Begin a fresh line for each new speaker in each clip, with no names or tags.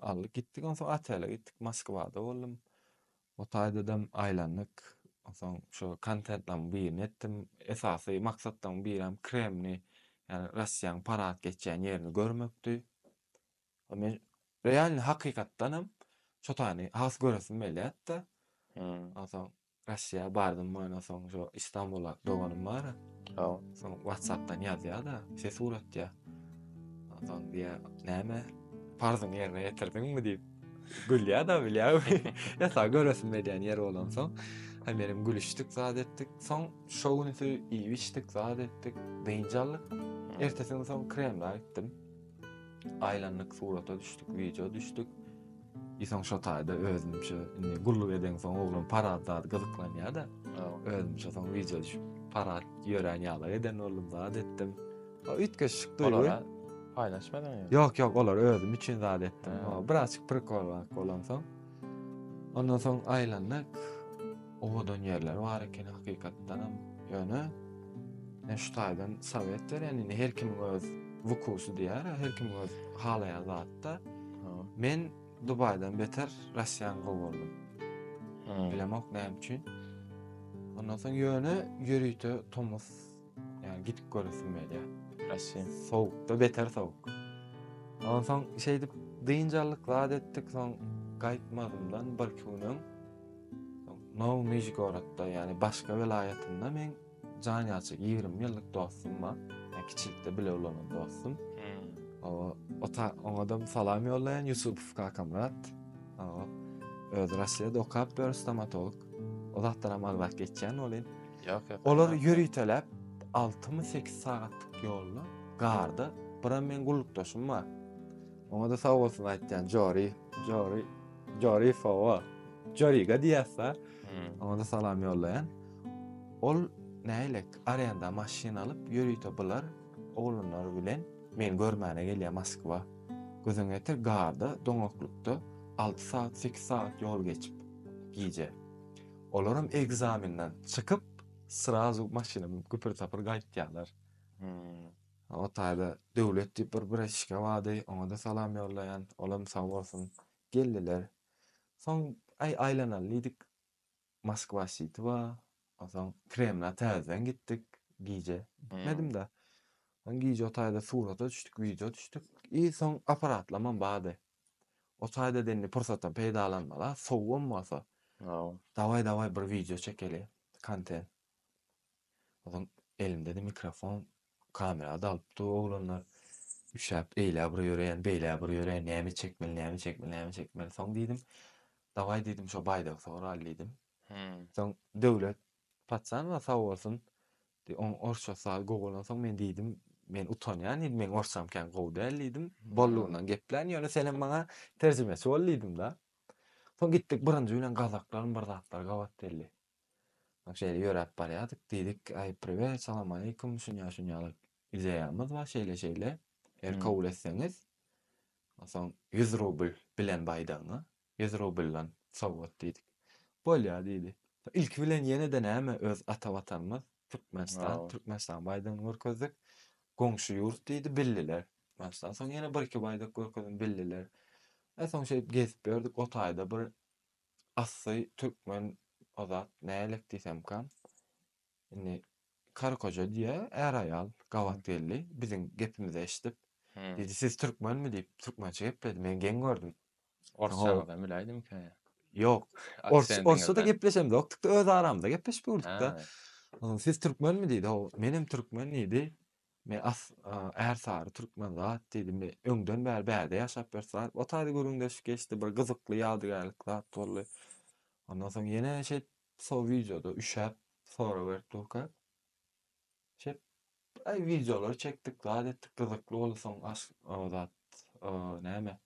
Aldyk gitdik onsoň otele gitdik Moskwada boldum. O taýdadam aýlandyk. Onsoň şu kontentleriň birini etdim. Esasy maksatlaryň birem Kremni, ýagny Russiýanyň parad geçýän ýerini görmekdi. O men realny hakykatdanam şo taýny has göresim gelýärdi-de. Onsoň Russiýa bardym mana soň şu Istanbula doganym bar. Hawa. Soň WhatsAppdan ýazýa-da, ses uratýa. Soň diýýä, näme? Parzyňy ýerine ýetirdiňmi diýip. Gülýä-da bilýäňmi? Ýa-da göresim gelýän ýer bolan soň. Hem meniň gülüşdik, zat etdik. Soň şo günüsi iýip-içdik, zat etdik, dynç aldyk. Ertesi gün soň Kremla gitdim. Aýlandyk, surata düşdük, wideo düşdük. Isoň şo taýda özümçe indi gulluk eden soň oglan parat zat gyzyklanýar da. Özümçe soň wideo düşüp parat ýören ýala eden boldum zat etdim. O üýtgeşik duýgy. Paýlaşmadyň ýa?
Ýok ýok olar özüm
üçin zat etdim. Biraz çyk prikol bolan soň. Ondan soň aýlandyk. Owadan ýerler bar eken hakykatdanam. Ýöne men şu taýdan sowet berýän, indi her kimiň öz wukusy diýýär, her kim öz halaýan zatda. Men Dubaýdan beter Russiýany gowurdym. Bilemok näme üçin. Ondan soň ýöne ýörite tomus, ýani gidip göresim gelýär. Russiýa
sowukda beter
sowuk. Ondan soň şeýdip dynç aldyk, zat etdik, soň gaýtmazymdan birki gün öň Nowy Nižgorodda, ýagny başga welaýatynda men jan ýalçy 20 ýyllyk dostum bar. Yani kiçilikde bile ulanan dostum. Hmm. O, o ta, ona da salam ýollaýan Yusupov Kakamrat. O, öz Russiýada okap ber stomatolog. O zatdan hem agzak geçýän bolýan. Ýok, ýok. Olar
ýöriteläp
6-8 sagatlyk ýolda garda, bir men gullukdaşym bar. Oňada sag bolsun aýtýan Jori. Jori. Jori Fowa. Joriga diýäsä. Oňada salam ýollaýan. Ol näýlek arenda maşyn alyp ýörite bular oglanlar bilen men görmäne gelýä Moskwa. Gözüňe ýetir garda doňaklykda alty sagat sekiz sagat ýol geçip gije. Olaram ekzamenden çykyp srazu maşyna münüp güpür tapyr gaýtýalar. O taýda Döwlet diýip bir braçişka bardy, oňa-da salam ýollaýan, olam sag bolsun. Geldiler. Soň, Äý, aýlanaly diýdik. Moskwa şiti bar. Onsoň Kremla täzeden gitdik. Gije gitmedim-de. Soň gije o taýda surata düşdük, wideo düşdük. I soň apparatlamam bardy. O taýda-da indi pursatdan peýdalanmaly-a, sowugam bolsa. Dawaý-dawaý bir wideo çekeli, kontent. Ozan elimde-de mikrofon, kamera dalyp dur oglanlar. Üşäp eýlä bir ýöreýän, beýlä bir ýöreýän, näme çekmeli, näme çekmeli, näme çekmeli. Soň diýdim, dawaý diýdim, şo baýdagy soraly diýdim. Soň Döwlet Patjanowa sag bolsun, onuň orsça saz gowy bolansoň men diýdim, men utanýan diýdim, meň orsçam kän gowy däl diýdim. Boldugyndan geplän, ýöne senem maňa terjimeçi bol diýdim-de. Soň gitdik, birinji bilen gazaklarym bir zatlar gabat geldi. Şeýle ýöräp barýardyk. Diýdik, Aý, priwet, salamaleýkum, şunýa-şunýalyk ideýamyz bar, şeýle-şeýle. Eger kabul etseňiz, onsoň ýüz rubl bilen baýdagyňa, ýüz rubldan sowgat diýdik. Bolýar diýdi. Ilki bilen ýene-de näme, öz ata Watanymyz, Türkmenistan, Türkmenistanyň baýdagyny görkezdik. Goňşy ýurt diýdi, bildiler. Onsoň ýene bir-iki baýdak görkezdim, bildiler. Soň şeýdip gezip ýördük, o taýda bir Asly türkmen o zat nälik diýsemka indi karı koja diýä är aýal gabat geldi biziň gepimizi eşdip diýdi siz türkmenmi diýip türkmençe gepledi men geň gördüm. Orsçaňyzam
biläýdimikä? Ýok
orsça-da gepleşemzok dik öz aramyzda gepleşip ýördükde onsoň siz türkmenmi diýdi ho menem türkmen diýdi Me as Ärsary Türkmenzat diýdi me öňden bäri bärde ýaşap bir sar o taýda gürrüňdeşik geçdi bir gyzykly ýadygärlik zat boldy ondan soň ýene şeýt so wideoda üşäp sorag berip durka şeýt aý wideolar çekdik zat etdik gyzykly boldy soň aş o zat o näme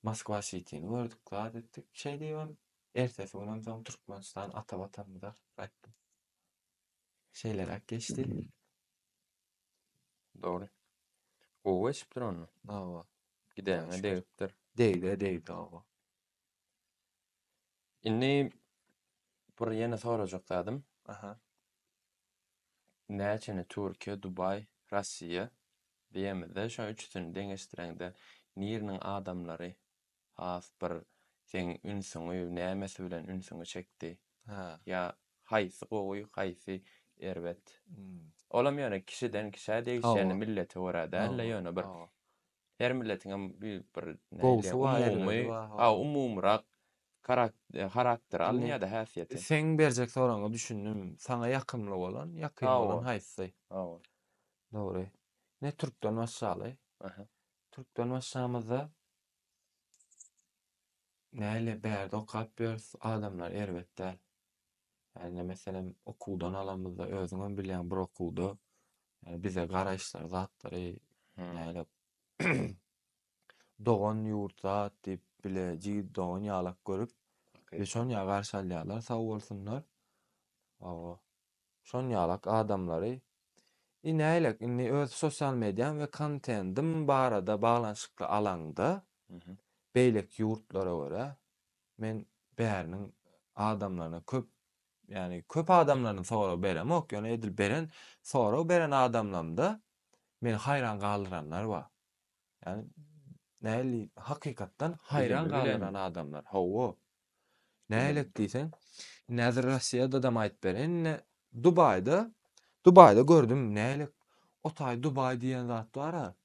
Moskwa Sitini gördük zat etdik şeý diýibem ertesi günem soň Türkmenistan ata watanymyza gaýtdym. Şeýleräk geçdi.
Dogry. Gowy geçipdir onda. Hawa. Gidäňe degipdir. Degdi, degdi hawa. Indi bir ýene sorajak zadym. Aha. Näçeni Türkiýe, Dubaý, Russiýa diýemizde, şo üçüsini deňeşdireňde, niriniň adamlary Has bir seň ünsüňi nämesi bilen ünsüňi çekdi? Hä. Ýa
haýsy
gowy haýsy erbet. Olam
ýöne kişiden
kişä degişýäni millete görä dälde ýöne bir her
milletiňem
bir umumy
ha umumyrak
harakteri alynýada
häsiýeti. Seň
berjek soragyňa
düşündim. Saňa ýakymly bolan ýakyn bolan haýsy? Hawa.
Dogry.
Ne türkden başlaly.
Türkden
başlamyzda Näle bärde okap ýörüs, adamlar erbet däl. Ýagny meselem okuwdan alamyzda özüňem bilýäň bir okuwda ýagny bize garaýyşlar zatlary näle dogan ýurt zat diýip bile jigit dogan ýalak görüp Okey. Beş-on ýa garşy alýarlar sag bolsunlar. Awa. Şonýalak adamlary I näýlek indi öz sosial mediaň we kontendiň barada baglanyşykly alaňda
beýleki
ýurtlara görä men bäriniň adamlaryna köp ýagny köp adamlardan sorag beremok ýöne edil beren sorag beren adamlamda meni haýran galdyranlar bar. Ýani näli hakykatdan haýran galdyran adamlar.
Hawa.
Nälet
diýseň,
indi häzir Russiýadadam aýyp ber. Indi Dubaýda, Dubaýda gördüm nälet. O taý Dubaý diýen zat bar-a.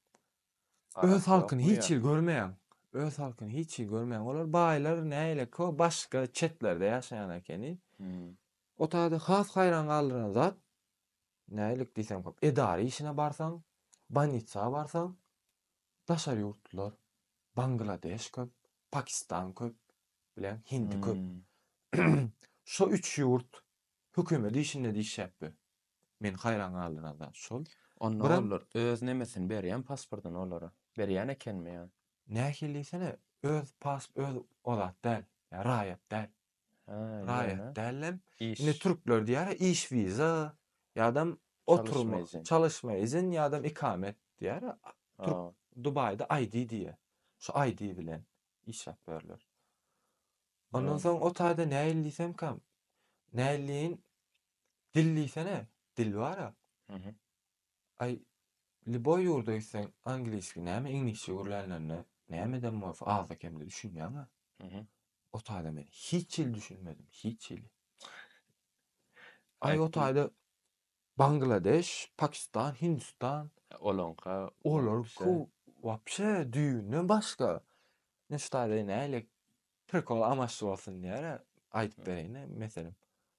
Öz halkyny hiç hili görmeýän. Öz halkyny hiç hili görmeýän. Olar baýlar nälet o başga çetlerde ýaşaýan ekeni. O taýda has haýran galdyran zat Nälik diýseň köp. Edara işine barsaň, bolnitsa barsaň, daşary ýurtlular, Bangladeş köp, Pakistan köp, bileň, Hindi köp. Şo üç ýurt hökümet işinde diýişýäp be. Meni haýran galdyran zat şol. Onda olar
öz
nemesini
berýän pasportyny olara? Berýän ekenmi ýa? Nähili diýsene,
öz pasp öz o zat däl. Ýa raýat däl.
Raýat dällem. Indi
türkler
diýýär ya
iş wiza ýadam oturma
çalyşma izin ýadam
ikamet diýýär ya türk dubaýda
ID
diýýär şu ID bilen işläp berler. Ondan soň o taýda
näil
diýsemkam näilleýin dil diýsene dil bar ya
Aý
liboý ýurda gitseň angliski näme iňlisçe gürlänlerine nämeden bolsa azda kemde düşünýäňä.
O taýda men
hiç hili düşünmedim hiç hili. Aý o taýda Bangladeş, Pakistan, Hindistan olaňka
olar ku
wapşe düýbünden başga. Men şu taýda nähili prikol amaçly bolsun diýär aýdyp bereýin meselem.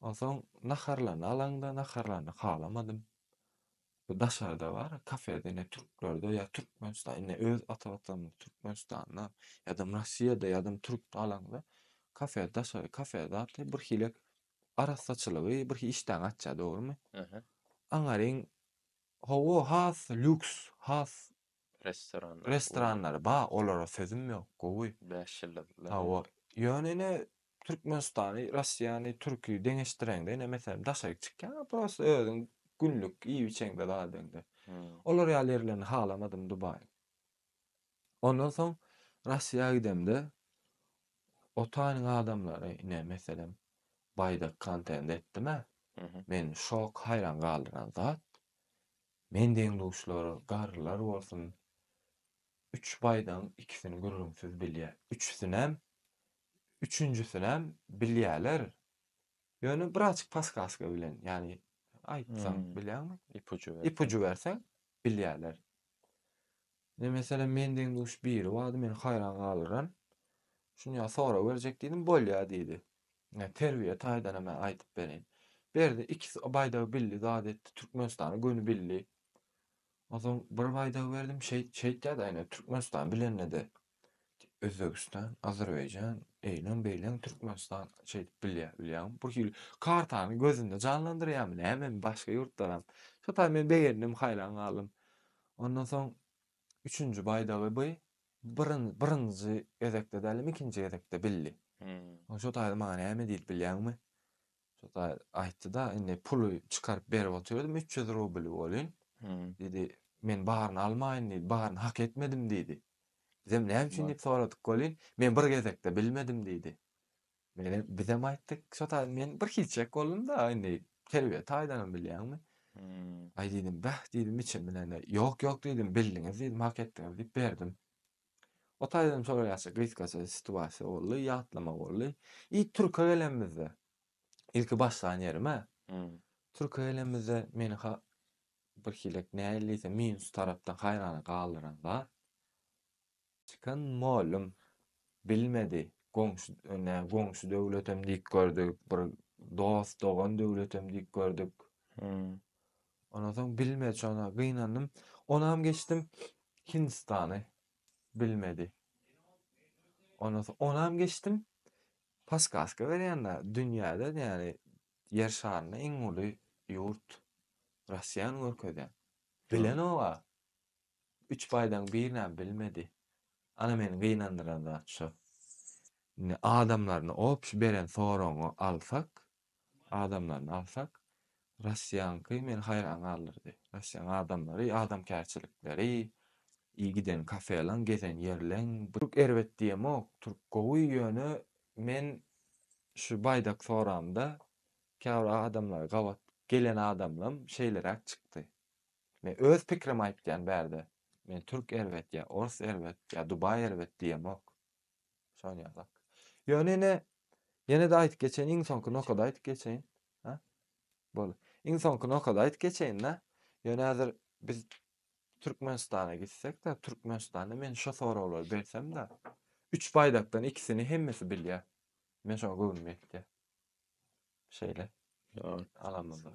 Onsoň naharlaryny alaňda, naharlaryny halamadym. Bu daşarda bar, kafede ine türklerde ýa Türkmenistan, ine öz ata watanymyz Türkmenistanda, ýadam Rossiýada, ýadam türkde alaňda, kafe daşary kafe zatly bir hilek arassaçylygy, bir hili işdäňi açýar, dogrumy?
Aňaryň,
hawa, has lýuks, has Restoranlary.
Restoranlary ba
olara sözüm ýok gowy. Bäş ýyldyzlary.
Hawa. Ýöne
ine Türkmenistany, Russiýany, Türki deňeşdireňde ine meselem daşaryk çykýaňa prosta özüň günlük iýip-içeňde zadyňda. Olar ýaly ýerlerini halamadym Dubaýyň. Ondan soň Russiýa gidemde o taýynyň adamlary ine meselem Baýdak kontent etdim-ä. Men şok haýran galdyran zat Men deň-duşlar, garrylar bolsun, üç baýdagyň ikisini gürrüňsiz bilýär. Üçüsinem, üçünjisinem bilýärler. Ýöne bir açyk paskaska bilen, ýagny aýtsaň, bilýäňmi? Ipujy berseň. Ipujy berseň, bilýärler. Ine, meselem, men deň-duş biri bardy, meni haýran galdyran. Şuny-a sora berjek diýdim, bolýa diýdi. Ine, terbiýe taýdan hem aýdyp bereýin. Berdi, iki baýdagy bildi, zat etdi, Türkmenistana göni bildi. Onsoň bir baýdagy berdim, şeýt, şeýtýä-de, ine, Türkmenistan bilende-de, Özbegistan, Azerbaýjan, eýlem, beýlem, Türkmenistan şeýdip bilýär, bilýäňmi? Bu hili kartany gözünde janlandyrýarmy, nämemi, başga ýurtlaram. Şo taýdan men begendim, haýran galdym. Ondan soň üçünji baýdagy by byryn byrynjy gezekde dälem ikinji gezekde bildi. Oň şo taýda maňa näme diýdi bilýäňmi? Şo taý aýtdy-da, indi puly çykaryp berip otyrdym, üç ýüz rubl welin, diýdi, men baryny almaýyn diýdi, baryny hak etmedim diýdi. Bizem näme üçin diýip soradyk welin, men bir gezekde bilmedim diýdi. Mele bizem aýtdyk. Şo taýdan men bir hiçjek boldum-da, indi terbiýe taýdanam bilýäňmi. Aý diýdim, bäh diýdim içim bilen-de. Ýok, ýok diýdim, bildiňiz diýdim, hak etdiňiz diýip berdim. O taýdanam şolar ýaşa gysgaça situasiýa boldy, ýatlama boldy. I türke gelenimizde, ilki başlan ýerim-ä. Türke gelenimizde meni ha birhilek nähili diýsem minus tarapdan haýrana galdyran zat, Çykan mugallym bilmedi, goňşy, nä, goňşy döwletem diýip gördük, bir dost, dogan döwletem diýip gördük. Hmm. Ondan soň bilmedi, şona gynandym. Onam geçdim Hindistany. Bilmedi. Ondan soň onam geçdim. Paskaska berýänler dünýäde, ýagny ýer şarynda iň uly ýurt Russiýany görkezýän. Bilenok-a. Üç baýdan birinem bilmedi. Ana meni gynandyran zat şo. Indi adamlaryny op şu beren soragyňy alsak, adamlaryny alsak, Russiýaňky meni haýran galdyrdy. Russiýaň adamlary, adamkärçilikleri, i giden kafeleň, gezen ýerleň, Türk erbet diýemok, türk gowy, ýöne men şu baýdak soramda käbir adamlar gabat gelen adamlam şeýleräk çykdy. Men öz pikirimi aýtýan bärde. Men türk erbet ýa ors erbet ýa dubaý erbet diýemok. Şony ýazak. Ýöne ine ýene-de aýdyp geçeýin iň soňky nokady aýdyp geçeýin. Ha? Bol. Iň soňky nokady aýdyp geçeýin da. Ýöne häzir biz Türkmenistana gitsek de, Türkmenistanda men şo soraglary bersem de, üç baýdakdan ikisini hemmesi bilýär. Men şoňa göwnüm ýetýär. Şeýle. Ýa.
Alamyzda.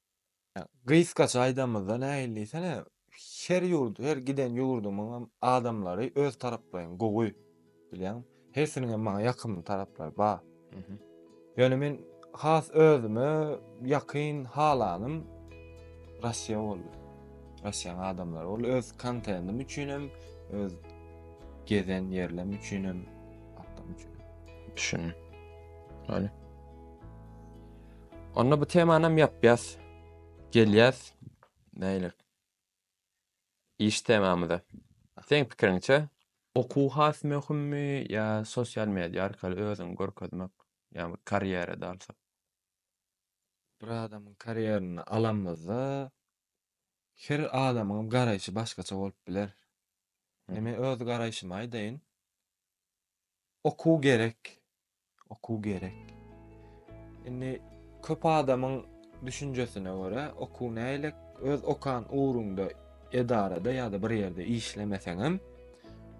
Gysgaça aýdanymyzda nähili diýsene, her ýurt, her giden ýurdumyň hem adamlary öz taraplaýyn gowy, bilýäňmi? Hersiniň hem maňa ýakymly taraplary bar. Ýöne men has özüme ýakyn halanym Russiýa boldy. Russiýanyň adamlary boldy. Öz kontentim üçin hem, öz gezen ýerlerim üçin hem, atlarym üçin hem.
Düşündim. Ýöne. Onda bu temanam ýapýas. Gelýäs näýle iş temamyza. Seň pikiriňçe? Okuw has möhümmi ýa sosial media arkaly özüňi görkezmek, ýa bir karýerada alsak?
Bir adamyň karýeryny alanymyzda her adamyň garaýşy başgaça bolup biler. Indi men öz garaýşymy aýdaýyn. Okuw gerek. Okuw gerek. Indi köp adamyň düşünjesine görä, okuw näýlek? Öz okan ugruňda edarada ýa-da bir ýerde işlemeseňem,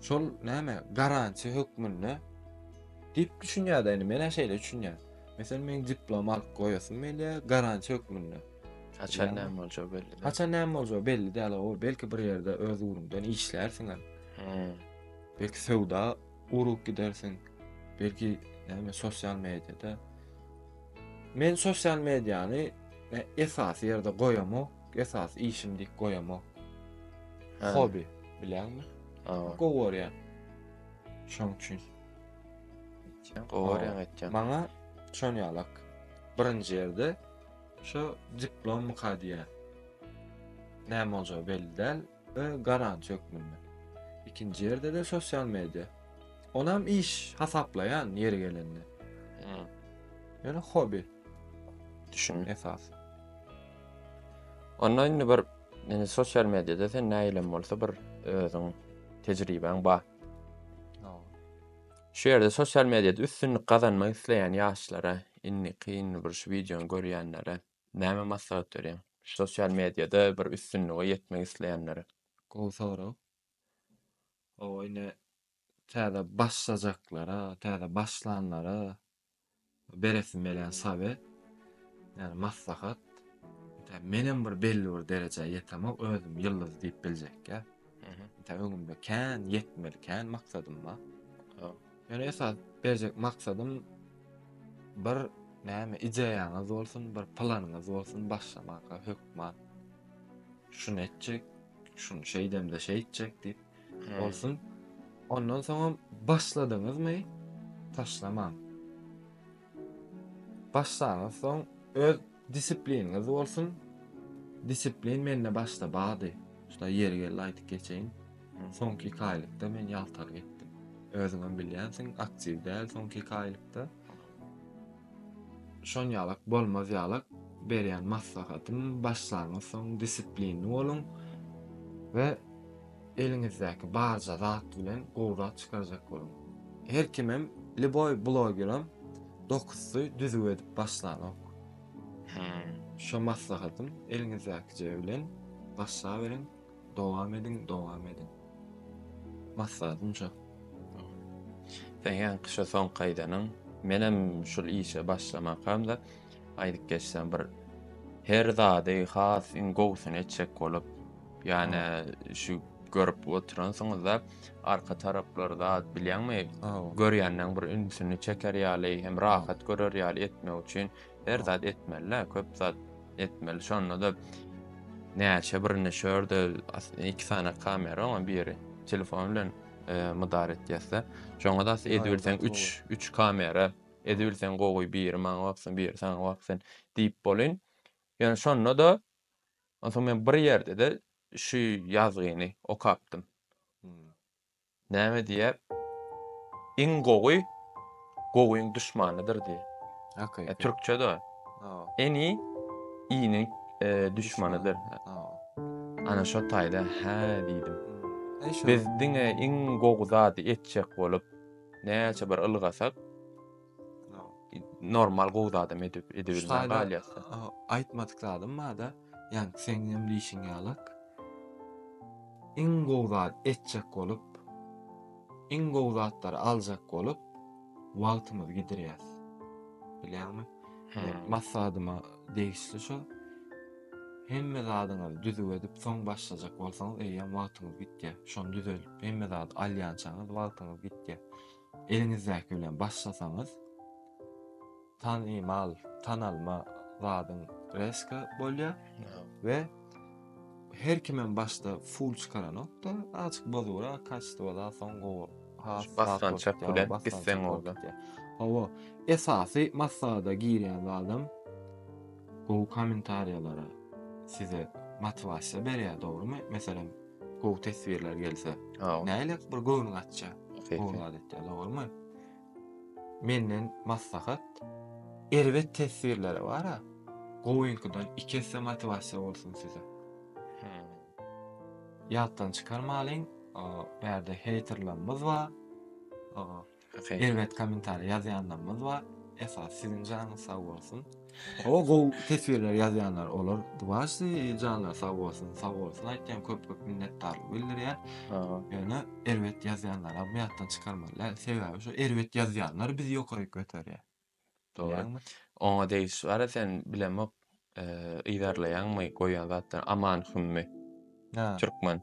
şol näme, garantiýa hökmünde diýip düşünýär-de, indi men-ä şeýle düşünýän. Meselem, meň diplom alyp goýasym gelýär, garantiýa hökmünde. Haçan näme
boljagy belli däl. Haçan näme boljagy belli
däl, hawa, belki bir ýerde öz ugruňdan işlärsiňem. He. Belki söwda urup gidersiň. Belki näme sosial mediada. Men sosial mediany e, esasy ýerde goýamok, esasy işim diýip goýamok. Hä. Hobi, bilýäňmi? Awa. Gowy görýän. Şoň üçin. Sen gowaryan
etjan. Maňa şon
ýalak. Birinji ýerde şu diplom mukadiýe. Näme boljagy belli däl. we garant hökmünde. Ikinji ýerde-de sosial media. Onam iş hasaplaýan ýeri gelende. Ýöne hobi. Düşün.
Esas. Onda indi bir indi sosial mediada sen näýlem bolsa bir özüň tejribäň bar. Şu ýerde sosial mediada üstünlik gazanmak isleýän ýaşlara, indi kyn bir şu wideony görýänlere Näme maslahat berýäň? Sosial mediada bir üstünlige ýetmek isleýänlere. Gowy sorag.
Oba ine täze başlajaklara, täze başlanlara beresim gelýän sawe, ýagny maslahat. Tä menem bir belli bir derejä ýetemok, özüm ýyldyz diýip biljekkä. Tä öňümde kän ýetmeli, kän maksadym bar. Men esas berjek maksadym bir näme ideýaňyz bolsun, bir planyňyz bolsun başlamaka hökman. Şuny etjek, şuny şeýdemde şeýtjek diýip hmm. bolsun. Ondan soňam başladyňyzmy? Taşlamaň. Başlaňyz soň öz Disipliniňiz bolsun. Disiplin mende başda bardy. Şuda ýeri geldi aýdyp geçeýin. Soňky iki aýlykda men ýaltalyk etdim. Özüňem bilýänsiň, aktiw däl soňky iki aýlykda. Şon ýalak bolmaz ýalak berýän maslahatym başlaňyz soň disiplinli boluň we Eliňizdäki barja zat bilen gowy zat çykarjak boluň. Her kimem, lýuboý blogerem dokuz sy düzüw edip başlanok. Hä, şo maslahatym, eliňizdäkije bilen başlaberiň, dowam ediň, dowam ediň. Maslahatym şo.
Sen ýaňky şo soňky aýdanyň, menem şul işe başlamakam-da, Aýdyp geçsem bir her zady has iň gowusyny etjek bolup, ýani şu görüp oturansyňyzda arka taraplary zat bilýäňmi? Görýänden bir ünsüni çeker ýaly, hem rahat görer ýaly etmek üçin her zat etmeli, köp zat etmeli. Şonda da näçe birini şörde iki sany kamera oňa biri telefon bilen e, mydar etýäsde. Şoňa da edip bilseň 3 3 kamera Edibilseň gowy biri maňa baksyn biri saňa baksyn diýip bolyn. Ýöne şonda-da onsoň men bir ýerde-de şu ýazgyny okapdym. Näme diýýär? Iň gowy gowyň duşmanydyr diýýär. Hakyky.
Türkçe-de.
Ini iniň duşmanydyr. Ana şo taýda hä diýdim. Biz diňe iň gowy zady etjek bolup. Näçe bir ylgasak normal gowy zadam edip edebilmän galýas. Aýtmadyk
zadym barda, ýani seň hem diýşiň ýaly. Iň gowy zat etjek bolup, iň gowy zatlary aljak bolup, wagtymyzy gidirýäs. Bilýäňmi? Massadyma degişli şo. Hemme zadyňyzy düzüp edip, soň başlajak bolsaňyz, eýýäm wagtyňyz gitýär. Şony düzelip Hemme zady alýançaňyz wagtyňyz gitýär. Eliňizdäki bilen başlasaňyz, tanymal, tanalma zadyň rezko bolýar we her kimem başda full çykaranokda, azajyk bozugyrak kaçtwa zat soň gowy has basgançak
bilen gitseň orda. Hawa,
esasy maslahada girýän zadym gowy kommentariýalara size motiwasiýa berýär, dogrymy? Meselem, Gowy teswirler gelse. Aw. Näle bir göwnüň açja. Gowy adatda dogrymy? Menden maslahat. Erbet teswirlere bara. Gowyňkydan iki esse motiwasiýa bolsun size. Ýatdan çykarmalyň. Bärde heýterlerimiz bar. Okay. Erbet kommentariýa ýazýanlarymyz bar. Esas siziň janyňyz sag bolsun. O gow teswirler ýazýanlar olar duwaşy janlar sag bolsun, sag bolsun aýtýan köp köp minnetdarlyk bildirýän. Ýöne erbet ýazýanlar hem ýatdan çykarmaly. Sebäbi şu erbet ýazýanlar bizi ýokaryk göterýär. Diýýäňmi?
Oňa degişli bar-a sen bilemok yzarlaýaňmy goýan zatlaryňy Aman Hümmi. Hä. Türkmen.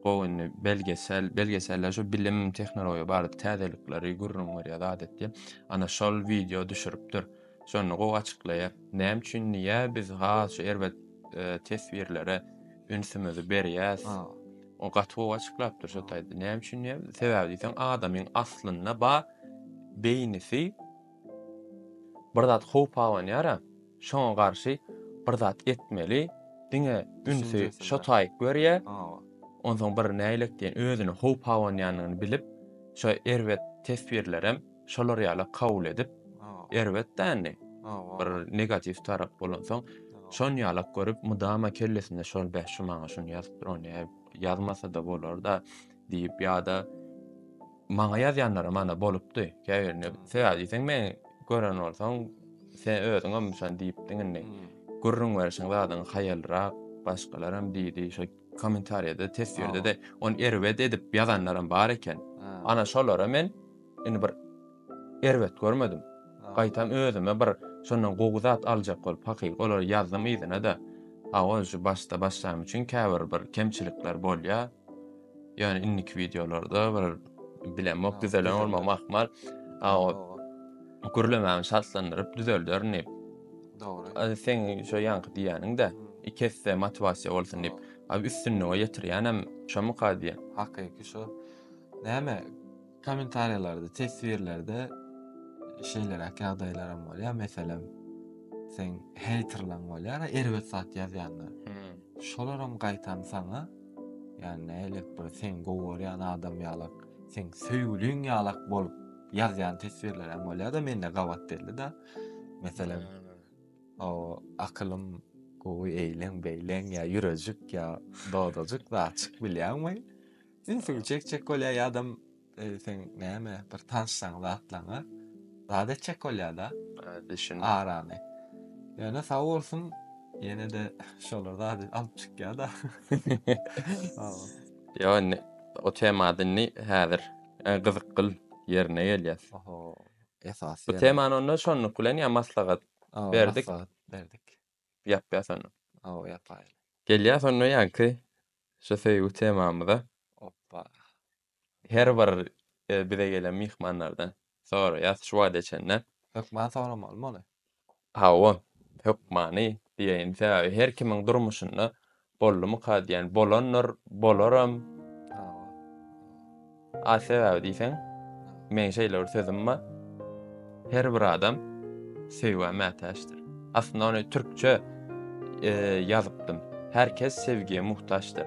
Gowy indi belgesel, belgeselde şu bilim, tehnologiýa barada täzelikleri gürrüň berýär zat etýär. Ana şol wideo düşüripdir. Şonda gowy açyklaýar. Näme üçin niýe biz has şu erbet teswirlere ünsümizi berýäs? O gaty gowy açyklapdyr şu taýda. Näme üçin diýýär? Sebäbi diýseň adamyň aslynda bar beýnisi bir zat howp abanýar-a, şoňa garşy bir zat etmeli, diňe ünsi şo taýyk berýär, onsoň bir näýlek diýen özüne howp abanýanyny bilip, şo erbet teswirlerem şolar ýaly kabul edip, erbet dändi, bir negatiw tarap bolansoň, şony ýalak görüp, mydama kellesinde şol, beh, şu maňa şuny ýazypdyr, ony ýazmasa-da bolar-da, Diýip ýa-da maňa ýazýanlaram ana bolupdy. Käbirine sebäbi diýseň meni gören bolsaň sen özüňem şony diýipdiň indi. Hmm. Gürrüň berişiň zadyň haýalrak başgalaram diýdi. Şo kommentariýada teswirde-de ony erbet edip ýazanlaram bar eken. Ana şolara men indi bir Erbet görmedim. Gaýtam özüme bir şondan gowy zat aljak bolup hakyky olary ýazdym yzyna-da. Hawa, şu başda başlanym üçin käbir bir kemçilikler bolýar. Ýöne indiki wideolarda bir bilemok düzelen bolmagym ahmal. Hawa. Gürlemämi çaltlandyryp düzelderin diýip. Dogry. A
seň şo ýaňky
diýýäniň-de, iki esse motiwasiýa bolsun diýip. A üstünlige ýetirýänem şomyka diýýän. Hakyky şo.
Näme? Kommentariýalarda, teswirlerde şeýleräk ýagdaýlaram bolýar. Meselem, seň heýterlaň bolýar, erbet zat ýazýanlar. Hmm. Şolaram gaýtam saňa ýani nälik bir seň gowy görýän adam ýalak, seň söýgüliň ýalak bolup ýazýan teswirlerem bolýar-da, mende gabat belli-de. Meselem, o akylym gowy eýleň-beýleň ýa ýürejik ýa dodajyk zat çykyp bilýäňmi? Ünsüňi çekjek bolýar ýadam e, sen näme bir tanşsaň zatlaňa zat etjek bolýar-da Düşün. arany. Ýöne sag bolsun ýene de şolar zat alyp çykýar-da.
Awa. Yo, ne, o temada indi häzir e, gyzykly ýerine gelýär. Oho.
Esasy. Bu temany onda
şonluk bilen ya maslahat Awa, berdik. maslahat berdik.
ýapýa sonda.
Hawa ýapaýaly.
Gelýäs onda
ýaňky şu söýgi temamyza. Oppa.
Her
bir bize gelen myhmanlardan soraýas şu wagta çenli. Hökman soramaly
muny. Hawa,
hökmany diýeýin. Sebäbi her kimiň durmuşynda Boldumyka diýen bolandyr, bolaram. A sebäbi diýseň, meň şeýle bir sözüm bar. Her bir adam söýgä mätäçdir. Aslynda ony türkçe ýazypdym. Her kes sevgiýe muhtaçdyr.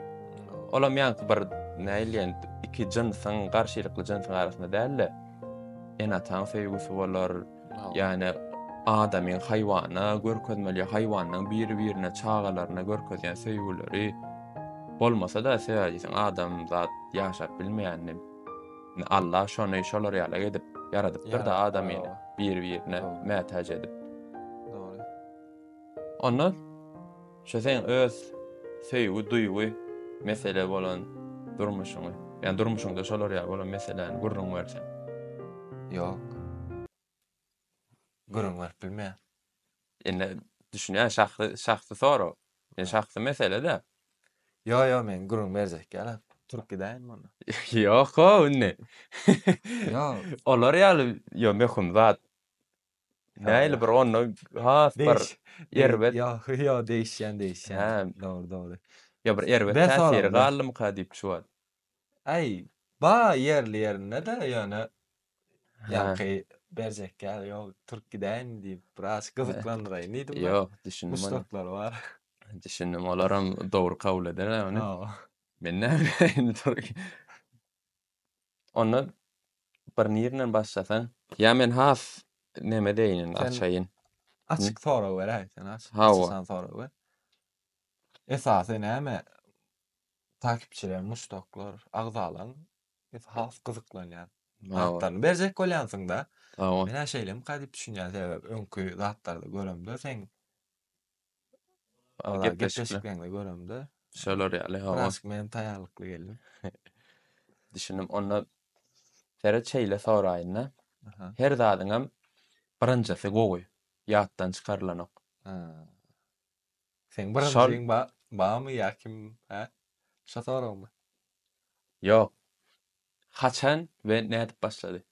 Olam ýaňky bir näleýän iki jynsyň, garşylykly jynsyň arasynda däl-de, ene-ataň söýgüsi bolar, Ýani adamyň haýwana görkezmeli, haýwanyň biri-birine, çagalaryna görkezýän söýgüleri bolmasa-da, sebäbi adam zat ýaşap bilmeýän. Allah şony şolar ýaly edip ýaradypdyr-da adamy biri-birine mätäç edip. Onda Şu seň öz söýgi, duýgy mesele bolan durmuşyňy, ýa durmuşyňda şolar ýaly bolan meseläni gürrüň berseň. Ýok.
Gürrüň berip bilmeýän. Indi
düşünýän şahsy şahsy sorag. Ýa şahsy mesele-dä. Ýok ýok
men gürrüň berjek ýalam. Turup gidäýin mundan. Ýok-ow
indi.
Ýok. Olar ýaly
ýo möhüm zat. Nähili bir onda has bir erbet. Ýok, ýok,
degişýän, degişýän. Dogry, dogry. Ýa bir
erbet täsiri galdymyka
diýip
şu
wagt.
Aý,
bar ýerli-ýerinde-de, ýöne ýaňky berjek ýaly ýok. Turup gidäýin diýip, biraz gyzyklandyraýyn diýdim. Ýok, düşündim. Muşdaklary
bar.
Düşündim,
olaram dogry kabul ederler ony. Men näme bileýin, turup. Onda bir nirden başlasaň? Ýa men has neme deýin indi açaýyn. Açyk sorag
beräý sen açyk açysan sorag ber. Esasy näme takipçiler muşdaklar agzalaň biz has gyzyklanýan zatlaryny berjek bolýansyňda. Sag bol. Menä şeýle
mika diýip
düşünýän sebäbi öňki zatlarda göremde seň Gepleşikleňde göremde. Şolar ýaly hawa.
Biraz men taýýarlykly
geldim.
Düşündim. Onda Ferit şeýle soraýynda. Her zadyňam birinjisi gowy. Ýatdan çykarylanok.
Seň birinjiň barmy ýa kim? Hä? Şo soragmy?
Ýok. Haçan we nädip başlady?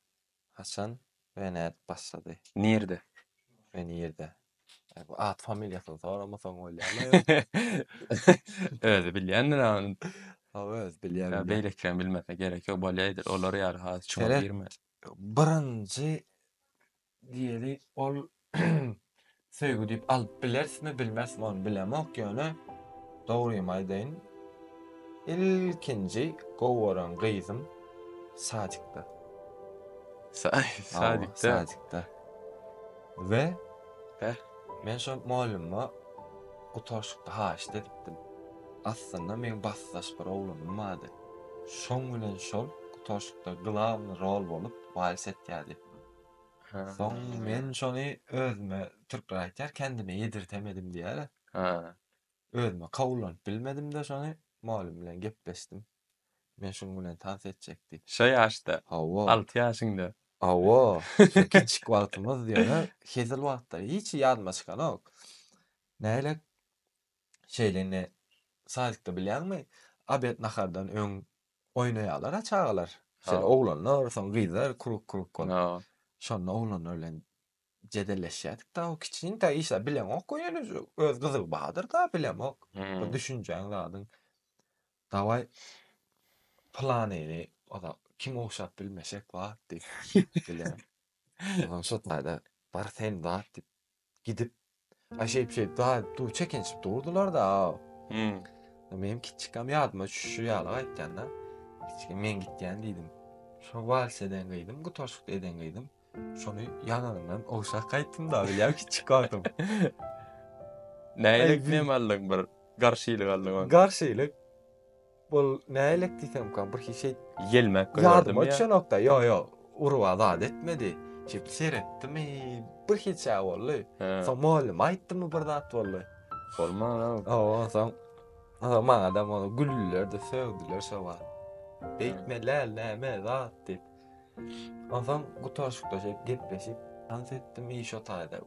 Haçan
we nädip başlady? Nirde
we
nirde? Bu at familiýasyny soramasaň bolýarmy aýol?
Özi bilýändir a ony. Hawa özi
bilýär bilýär. Beýlekileň bilmesine
gerek ýok bolýaýdyr. Olar ýaly has çuňa girme. Birinji
diýeli ol Söýgi diýip alyp bilersmi bilmersmi ony bilemok ýöne dogrymy aýdaýyn ilkinji gowy gören gyzym sadikda. Sadikda. Sadikda. We men şol mugallymma gutaryşykda haýyşt edipdim. Aslynda meň basdaş bir oglanym bardy. Şoň bilen şol gutaryşykda glawny rol bolup wals etýärdi. Ha. Soň men şony özüme türkler aýtýar kendime ýedirtemedim diýýärä. Ha. Özüme kabullanyp bilmedim-de şony mugallym bilen gepleşdim. Men şuň bilen tans etjek diýip. Şo ýaşda.
Hawa. Alty ýaşyňda. Hawa.
Şo kiçik wagtymyz ýöne hezil wagtlary hiç ýadyma çykanok. Nähili şeýle indi sadikde bilýäňmi? Obed nahardan öň oýnaýarlar-a çagalar. Şeýle oglanlar, soň
gyzlar
krug krug bolup. Şonda
oglanlar
bilen jedelleşýärdik-de, o kiçiňde işläp bileňok we ýene öz gyzygy bardyr-da, bilemok. Bir düşünjäň zadyň. Dawaý, planyny oda kim ogşap bilmesek bar diýip, bilen. Onsoň şo taýda bar sen bar diýip, Gidip, a şeýp şeýp da du çekinişip durdular da. Hmm. Menem kiçikam ýadyma düşüşi ýaly gaýtýan da. Kiçikim men gitýän diýdim. Şo wals eden gyzym, gutarşyk eden gyzym. Şony ýananyndan ogşap gaýtdym da, bilýän kiçik wagtym.
Nälik nem aldyň bir garşylyk aldyň. Garşylyk.
Bul nälik diýsemka bir hiç şeýt gelmek gördüm. Ýadyma
düşenokda.
Ýok, ýok. Urwa zat etmedi. Şeýdip seretdim. Bir hiç şeýt boldy. Soň mugallym aýtdymy bir zat boldy. Bolmana.
Awa, soň
Aa maňa da maňa güldüler de sögdüler şo wagt. Beýtme läl näme zat diýip. Onsoň gutaryşykda şeýdip gepleşip, tans etdim iş otagynda.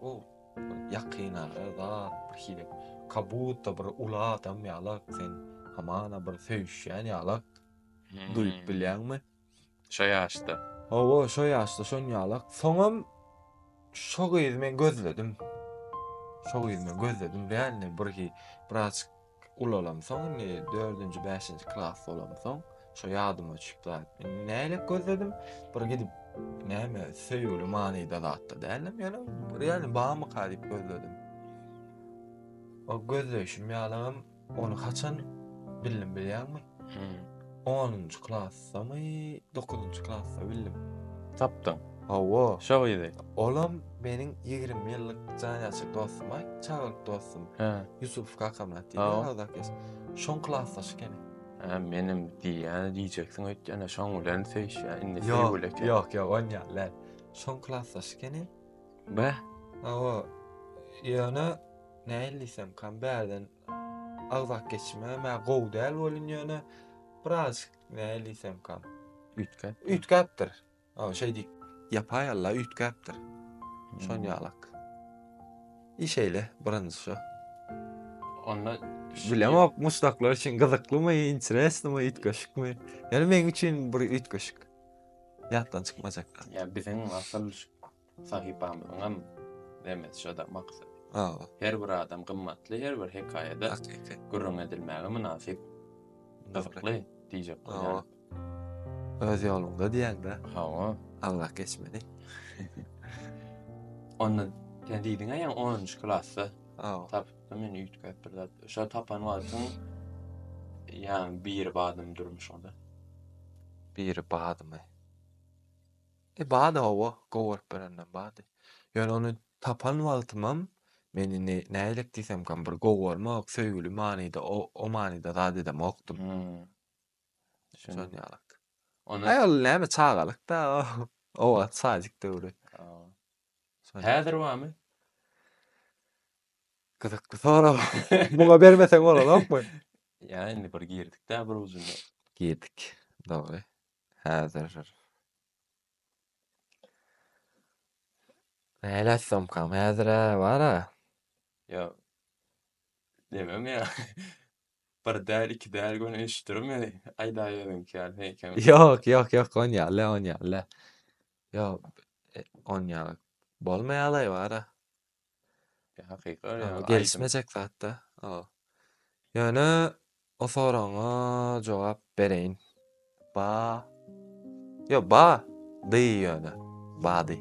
Ýakynara zat bir hili kabutta bir uly adam ýala sen hamana bir söýüşýän ýala duýup bilýäňmi? Şo
ýaşda. Hawa, şo
ýaşda şon ýala. Soňam şo gyzy men gözledim. Şo gyzy men gözledim dälini bir biraz ulalamsoň indi dördünji bäşinji klas bolamsoň şo ýadyma düşüp zat indi nälet gözledim bir gidip näme söýgüli manyda zatda dälem ýöne real bamyka diýip gözledim o gözleýşim ýalygym ony haçan bildim bilýäňmi hmm. onunjy klas Samy dokuzynjy klasda bildim. Tapdyň.
Hawa. Şo
gyzy.
Olam meniň
20 ýyllyk janýaşyk dostum, aý, çagalyk dostum. Hä. Ýusuf kakam atdy. Hawa. Şoň klasdaş ekeni. Hä, menem
diýýän diýjeksiň öýtýän, şoň bilen söýüşýän, indi söýgüli eken. Ýok, ýok, on
ýaly däl. Şoň klasdaş ekeni. Bäh.
Hawa.
Ýöne nähili diýsemkam bärden Agzak geçmem ä gowy däl welin ýöne biraz nälisemkam. Üýtgäp. Üýtgäpdir. Aw şeý diýip. Ýapaý alla üýtgäpdir. Şon ýalak. Iş eýle birinji şo.
Onda bilemok
muşdaklar üçin gyzyklymy, interesnymy, üýtgeşikmi. Ýöne meň üçin bir üýtgeşik. Ýatdan çykmajak. Ýa biziň asyl
Sahypamyzyňam nemesi şo-da, maksady. Hawa. Her bir adam gymmatly, her bir hekaýada Hakyky. gürrüň edilmäge mynasyp, gyzykly diýjek bolýan. Hawa.
Öz ýoluňda diýýäň-dä. Hawa. Aňlak
geçmeli. Onda sen diýdiň-ä ýaňy onunjy klasda Hawa. tapypdym men üýtgäp bir zat. Şo tapan wagtyň ýaňy biri badymy durmuşyňda. Biri
badymy. E, bady hawa, gowaryp berenden bady. Ýöne ony tapan wagtymam meni ne, nähilek diýsemkam bir gowarmak, söýgüli manyda, o, o manyda zat edemokdym. Şon ýalak. Ony. Aý, ol näme, çagalyk-da, o wagt sadik döwri.
Häzir barmy?
Gyzykly sorag. Muňa bermeseň bolanokmy? Ýa, indi
bir girdik-dä bir ujuna. Girdik,
dogry. Häzir Nälet somkam häzir-ä bar-a. Ýa
demem ýa. Bir däl, iki däl göni eşitdirim ýa aýdaýýalyňky ýaly heýkem. Ýok, ýok, ýok, on
ýaly, on ýaly. Ýok, on ýaly bolmaýalaý bar-a.
Hakyky ýa gelişmejek zatda.
Ýöne o soragyňa jogap bereýin. Ba. Ýo ba. Dy ýöne. Bady.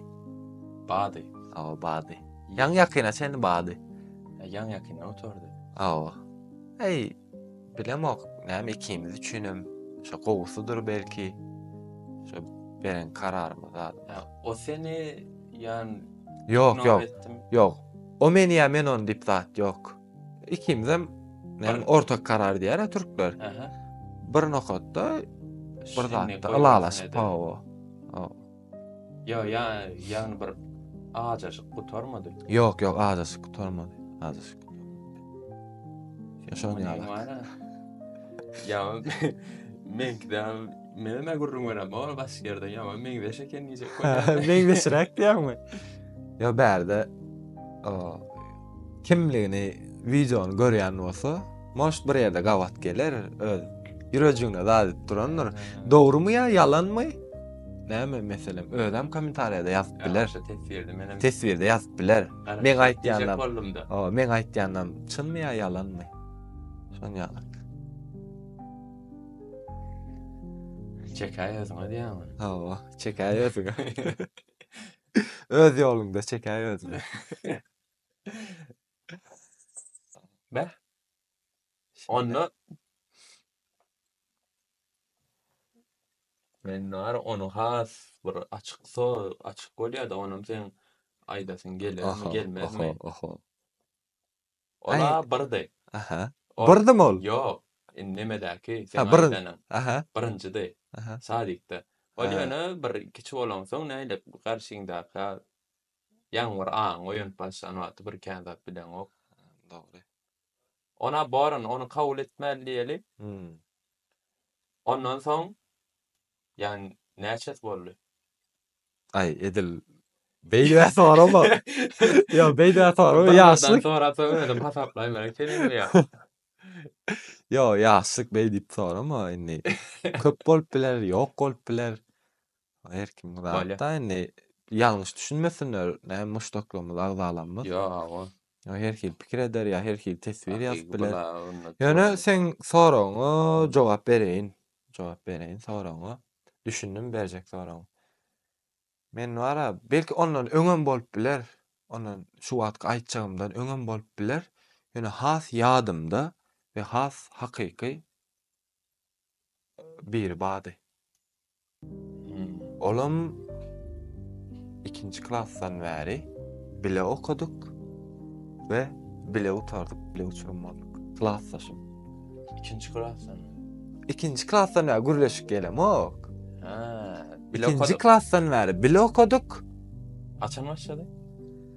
Bady. Awa bady. Ýaň ýakyna çenli bady. Ýaň ýakyna
oturdy. Awa.
Eý. Bilemok, näme ikimiz üçinem şo gowusydyr belki. Şo beren kararymyz zat. O seni
ýan Ýok, ýok.
Ýok. O meni ýa men ony diýip zat ýok. Ikimizem men ortak karar diýär türkler. Bir nokatda bir zatda ylalaşyp, hawa.
Ýa, ýa, ýagny bir ajaşyk gutarmady. Ýok, ýok, ajaşyk
gutarmady. Ajaşyk. Şoň ýaly.
Ýa, meňkide men näme gürrüň berem, o başga ýerde ýa, meňzeş eken diýjek. Meňzeşräk
diýýärmi? Ýa bärde o Kimligini videony görýän bolsa Moş bir ýerde gabat geler öz ýürejigine zat edip durandyr. Dogrymy ýa ýalanmy? Näme meselem özem kommentariýada ýazyp biler. Teswirde ýazyp biler. Meň aýtýanlarym. O, meň aýtýanlarym çynmy ýa ýalanmy? Şony ýazyp.
Çekäý
özüňe diýýäňmi? Hawa, çekäý özüňe. Öz ýoluňda çekäý özüňe.
Beh. Onda Men bar onu has bir açyk so açyk bolýar da onam sen aýdasyň gelermi gelmezmi. Aha aha. Ola birdi. Aha.
Birdim ol. Ýok. Indi
nemedäki sen aýdanyň. Aha. Birinjidi.
Aha.
Sadikde. Ol ýöne bir kiçi bolansoň nädip garşyňdaky Ýaňy bir aňy oýanyp başlan wagty bir kän zat bileňok. Dogry.
Ona
borun ony kabul etmeli diýeli. Ondan soň ýan näçesi boldy?
Aý edil beýdä sorama. Ýok beýdä sorama ýaşlyk. Sorasaň özüm
hasaplaýmaryn seniň bu ýa.
Ýok ýaşlyk beýdip sorama indi. Köp bolup biler, ýok bolup biler. Her kimiň zatda indi ýalňyş düşünmesinler, näme muşdaklarymyz, agzalarymyz. Ýa-a.
Ýa her hili pikir
eder, ýa her hili teswir ýazyp biler. Ýöne seň soragyňa jogap bereýin. Jogap bereýin soragyňa. Düşündim berjek soragyň. Men bar-a, belki ondan öňem bolup biler. Ondan şu wagtky aýtjagymdan öňem bolup biler. Ýöne has ýadymda we has hakyky biri bardy. Olam ikinji klasdan bäri bile okadyk we bile gutardyk, bile uçurum bolduk. Klasdaşym. Ikinji
klasdan. Ikinji
klasdan bäri gürleşik gelemok. Ha,
bile Ikinji okadyk. klasdan
bäri bile okadyk. Açan
başlady.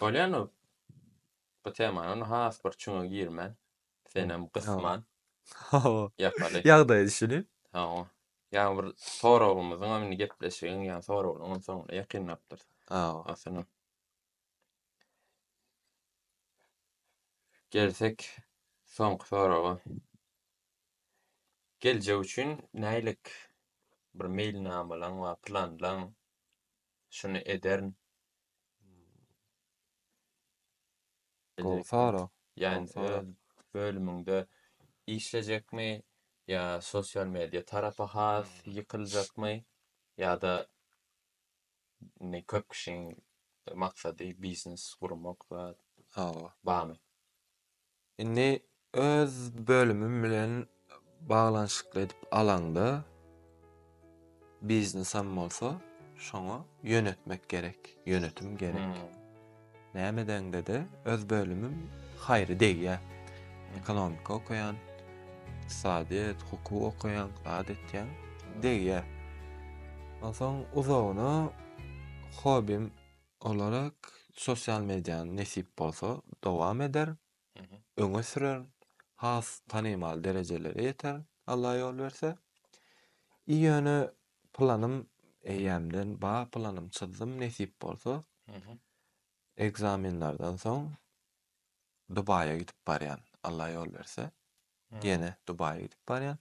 Polýanow bu temanyň has bir çuňa girmän, senem gysman. Hawa. Ýapaly. Ýagdaýa düşünip.
Hawa. Ýa
bir soragymyzyňam indi gepleşigiň ýa soraglaryňam soňuna ýakynlapdyrys. Hawa. Aslynam. Gelsek soňky soraga. Geljek üçin nähilek bir meýilnamalaň bar, planlaň? Şuny ederin.
Gowsara. Ýani öz
bölüminde işlejekmi ýa sosial media tarapa has ýykyljakmy ýa-da indi köp kişiň maksady biznes gurmak zat. Hawa. Barmy?
Indi öz bölümim bilen baglanyşykly edip alaňda biznesem bolsa şoňa ýönetmek gerek, ýönetim gerek. Näme edeňde-de öz bölümim haýry degýär. Ekonomika okaýan, ykdysadyýet, hukuk okaýan, zat etýän degýär. Onsoň uzagyna hobim. Olara sosial mediany nesip bolsa dowam eder, öňe sürer, has tanymal derejelere ýeter, Alla ýol berse. I ýöne planym eýýämden ba planym çyzdym nesip bolsa ekzamenlerden soň Dubaýa gidip barýan Alla ýol berse ýene Dubaýa gidip barýan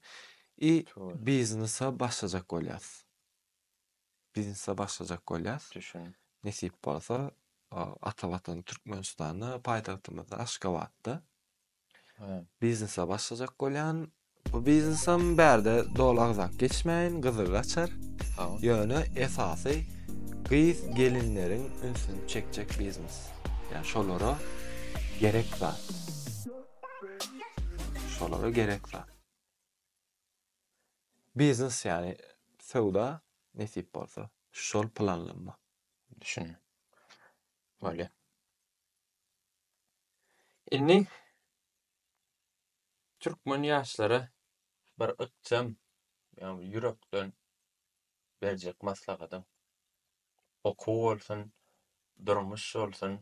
i biznesa başlajak bolýas. biznese başlajak bolýas. Düşün. Nesip
bolsa,
ata watany Türkmenistanda, paýtagtymyzda Aşgabatda biznese başlajak bolýan. Bu biznesem bärde doly agzap geçmäýin, gyzygy açar. Ýöne esasy gyz gelinleriň ünsüni çekjek biznes. Ýa şolara gerek zat. Şolara gerek zat. Biznes ýaly söwda nesip bolsa. Şol planlanma. Düşün.
Bolýa. Indi türkmen ýaşlara bir ykjam ýagny ýürekden berjek maslahatyň okuw bolsun, durmuş bolsun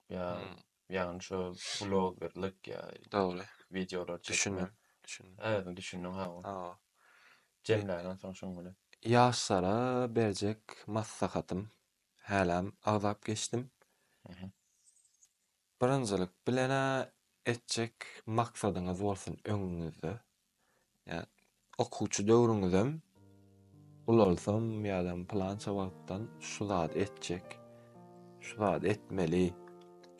ýa Hmm. ýagny şo blogerlik ýa Dogry.
wideolar çekmek. Düşündim.
Düşündim. Ädim
düşündiň ha
oňa. Hawa.
Jemläňem
soň şuň bilen. Ýaşlara
berjek maslahatym, häläm agzap geçdim. Mhm. Birinjilik bilen-ä etjek maksadyňyz bolsun öňüňizde. Ýa okuwçy döwrüňizem ulalsam ýa-da pylança wagtdan şu zady etjek, şu zady etmeli,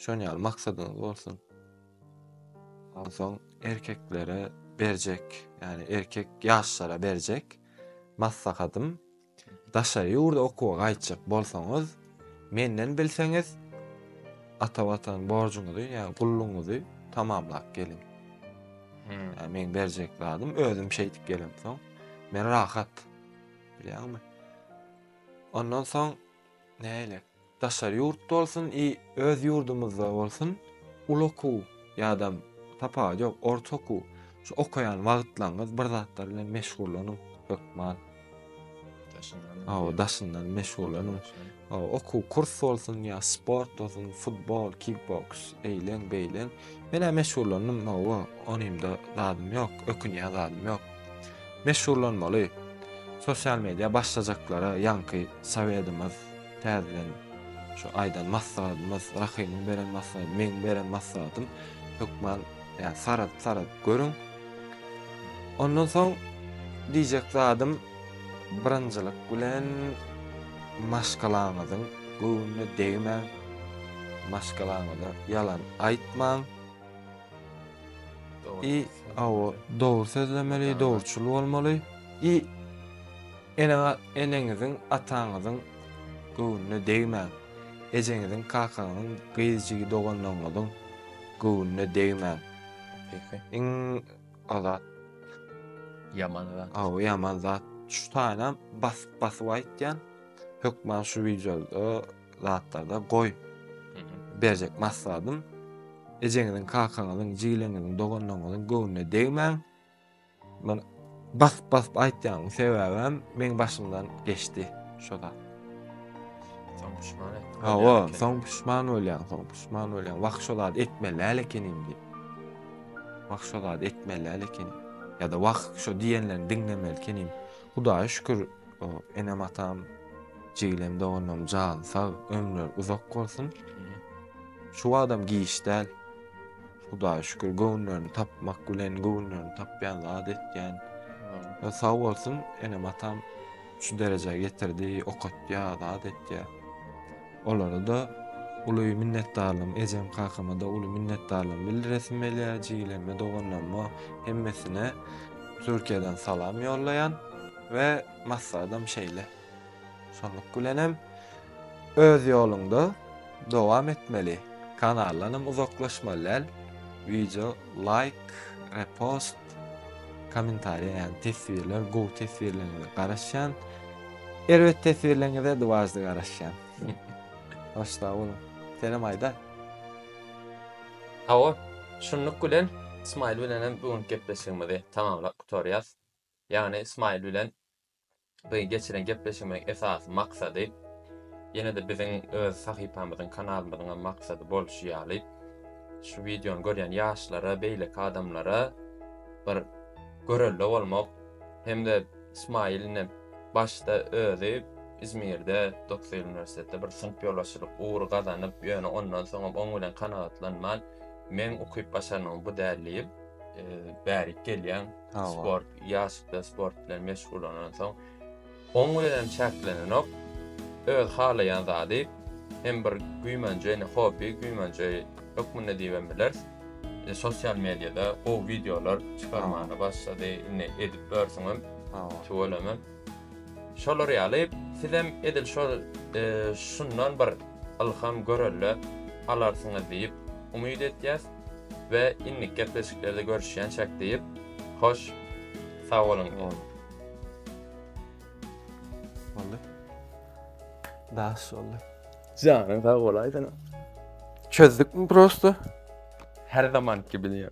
şon ýaly maksadyňyz bolsun. Onsoň erkeklere berjek, ýani erkek ýaşlara berjek maslahatym Daşary ýurda okuwa gaýtjak bolsaňyz, menden bilseňiz, ata watan borjuňyzy, ýa gullugyňyzy tamamlap geliň. Hmm. Ýa meň berjek zadym özüm şeýdip gelemsoň, men rahat. Bilýäňmi? Ondan soň näýlek? Daşary ýurt bolsun i öz ýurdumyzda bolsun uly okuw ýadam tapawudy ýok orta okuw şu okaýan wagtlaňyz bir zatlar bilen meşgullanyň hökman daşyndan meşgullanyň okuw kurs bolsun ýa sport bolsun futbol kikboks eýleň beýleň menä meşgullandym hawa onymda zadym ýok ökünýän zadym ýok meşgullanmaly sosial media başlajaklara ýaňky sowedimiz Täzeden şu aýdan maslahatymyz, Rahymyň beren maslahaty, meň beren maslahatym hökman ýa saradyp-saradyp görüň. Ondan soň diýjek zadym birinjilik bilen maşgalaňyzyň göwnüne degmäň. Maşgalaňyza ýalan aýtmaň. I awa dogry sözlemeli, dogruçyl bolmaly. I Eneňe eneňiziň, ataňyzyň göwnüne degmäň. Ejeňiziň, kakaňyzyň, gyz jigi doganlaryňyzyň göwnüne degmäň. Beýik iň o zat.
Ýaman zat. Hawa, ýaman zat.
Şu taýynam basyp-basyp aýtýan. Hökman şu wideoda zatlarda goý. Berjek maslahatym. Ejeňiziň, kakaňyzyň, jigileňiziň, doganlaryňyzyň göwnüne degmäň. Men basyp basyp aýtýan sebäbem meň başymdan geçdi şo zat. Soň
pişman etdi. Hawa, soň pişman
bolýan, soň pişman bolýan. Wah şo zat etmeli äl ekenim diýip. Wah şo zat etmeli äl ekenim. Ya da wah şo diýenlerini diňlemeli ekenim. Hudaýa şükür, enem atam, jigilem doganlarym jan sag, ömürleri uzak bolsun. Şu adam giç däl. Hudaýa şükür göwünlerini tapmak bilen göwünlerini tapýan zat etýän. Ýa sag bolsun enem atam şu derejä getirdi, okatýa, zat etýä. Olara da uly minnetdarlygym, ejem kakama da uly minnetdarlygym bildiresim gelýä, jigilerime, doganlaryma, hemmesine Türkiýeden salam ýollaýan we maksadym şeýle. Şonluk bilenem öz ýoluňda dowam etmeli. Kanaldanam uzaklaşmaly däl. Wideo laýk, repost, kommentariýa ýagny teswirler gowy teswirleriňize garaşýan. Erbet teswirleriňize dwaždy garaşýan. Hoş sag boluň. Senem aýda. Hawa,
şunluk bilen Smile bilenem bu günki gepleşigimizi tamamlap gutarýas. Ýagny Smile bilen Biziň geçiren gepleşigimiziň esasy maksady, ýene-de biziň öz sahypamyzyň, kanalymyzyňam maksady bolşy ýaly, şu wideony görýän ýaşlara, beýleki adamlara bir görelde bolmak hem-de Smile ine başda özi Izmirde, dokuz ýyl uniwersitetde bir synp ýolbaşçylyk ugry gazanyp, ýöne ondan soňam oň bilen kanagatlanman, meň ukyp-başarnygym bu däl diýip, bärik gelýän. sport, ýaşda sport bilen meşgullanansoň, oň bilen çäklenenok, öz halaýan zady, hem bir güýmenje, indi hobby, güýmenje hökmünde diýibem bileris. E, sosial mediýada gowy wideolar çykarmaga başlady, indi edip ýörsüňem, tüweleme. Şolar ýaly sizem edil şol şundan bir ylham görelde alarsyňyz diýip umyt etýäs we indiki gepleşiklerde görüşýänçäk diýip hoş sagboluň diýip.
Boldy. Daş boldy. Janyň sag
bolaýsyn. Çözdükmi prosto?
Her
zamanky bilen.